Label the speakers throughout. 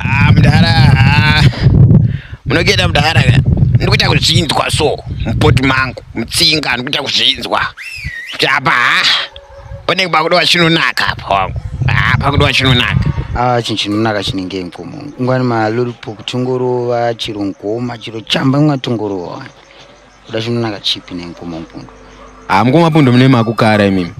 Speaker 1: Ah mdara ah. Munogenda mdara ka. Ndikuita kuzvinzwa so mupoti mangu mutsinga ndikuita kuzvinzwa. Kuti apa ah. Pane pakudo wachinonaka apa wangu. Ah pakudo wachinonaka. Ah chinhu chinonaka chinenge mkomo. Ngwani malori pokutungorova chiro ngoma chiro chamba mwatungorova. Kuda chinonaka chipi nemukoma mupundu? Ah, mukoma mupundu mune makukara imimi.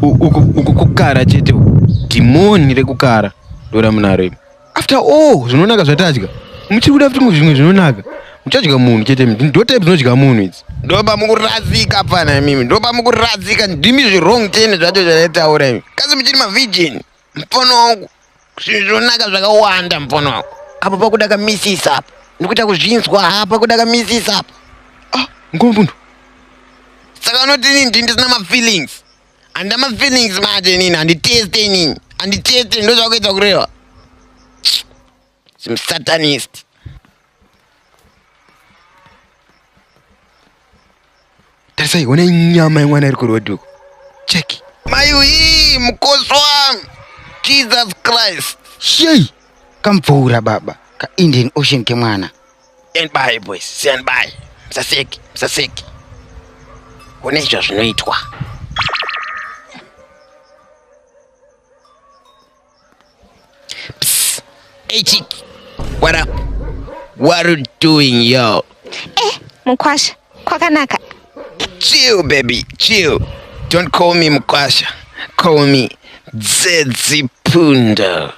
Speaker 1: Uku kukara chete uku. Dhimoni rekukara ndora munaro imi. After all zvinonaka zvatadya. Muchiri kuda futi zvimwe zvinonaka. Muchadya munhu chete imi. Ndo type dzinodya munhu idzi. Ndopa mukuradzika pfana imimi. Ndopa mukuradzika ndimi zvirong ten zvacho zvataura imi. Kasi muchiri mavirgin. Mpono wangu, zvinhu zvonaka zvakawanda mpono wangu. Apa pakuda kamisisa apa. Ndikuita kuzvinzwa apa pakuda kamisisa apa. Ah, ngombundo. Saka unoti nini ndini ndisina mafeelings? Handina mafeelings manje nini handiteste nini? Handiteste ndozvakuita kureva. Some satanist. Tarisai, ona inyama yemwana iri kuroad uko. Check. Mai uyi mukosi wami. Jesus Christ. Shei. Kamvura baba. Ka Indian Ocean kemwana. Stand by boys, stand by. Msaseki, msaseki. Ona izvo zvinoitwa. Psst. Hey chick, what up? What are you doing yo? Eh, mkwasha, kwakanaka. Chill baby, chill. Don't call me mkwasha. Call me Dzedzi Punda.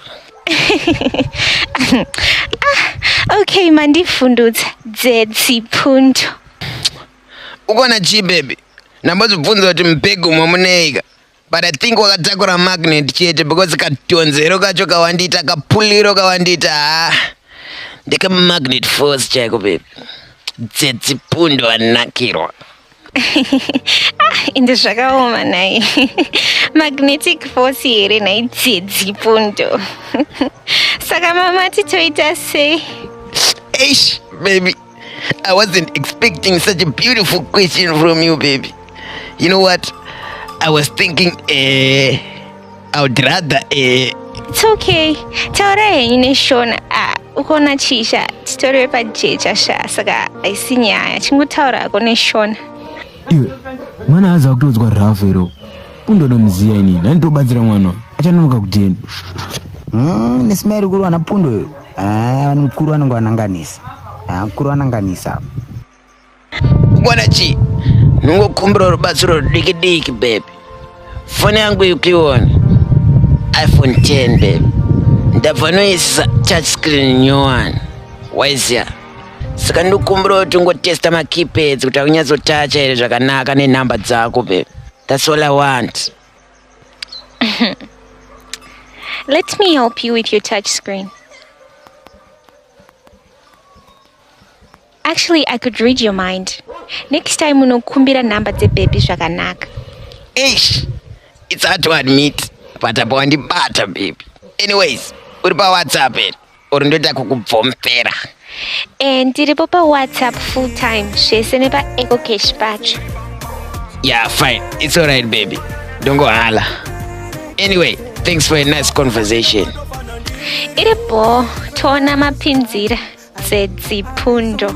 Speaker 1: ah, okay, mandifundudza Dzedzi Pundu. Ukona chi baby? Nambozvibvunza kuti mubhegi umo muneika. but i think wakatakura magnet chete because katonzero kacho kawandiita kapuliro kawandiita ha ndikamagnet force chaiko bebi dzedzipundo anakirwa ah, ende zvakaoma nhai magnetic force here nhai dzedzipundo saka mama titoita sei eish baby I wasn't expecting such a beautiful question from you, baby. You know what? I was thinking, eh, I would rather, eh. It's okay. Taura henyu neshona. Ah, ukaona chii sha titoriwe pajecha sha saka haisi nyaya chingotaura hako neshona. iwe mwana aza kutoudzwa rafu iro pundoda muziya ini ndanitobatsira mwana achanonoka kudini mm, nesimairi kuri wana pundo uyo ah, mukuru anenge wananganisa ah, mukuru wananganisa mwana chii ndingokumbira rubatsiro diki diki baby foni yangu yukiona iphone 10 baby ndabva noisisa touch screen nyowani waiziya saka ndikumbira kuti ungotesta makeypads kuti akunyatsotacha here zvakanaka nenhamba dzako babe that's all i want let me help you with your touch screen actually i could read your mind next time unokumbira nhamba dzebhebhi zvakanaka ish it's hard to admit but apa wandibata baby anyways uri pawhatsapp here or ndoita kukubvomfera eh, ndiripo pawhatsapp full time zvese nepaecocash pacho yeah fine it's alright baby ndongohala anyway thanks for a nice conversation iri bho toona mapinzira dzedzipfundo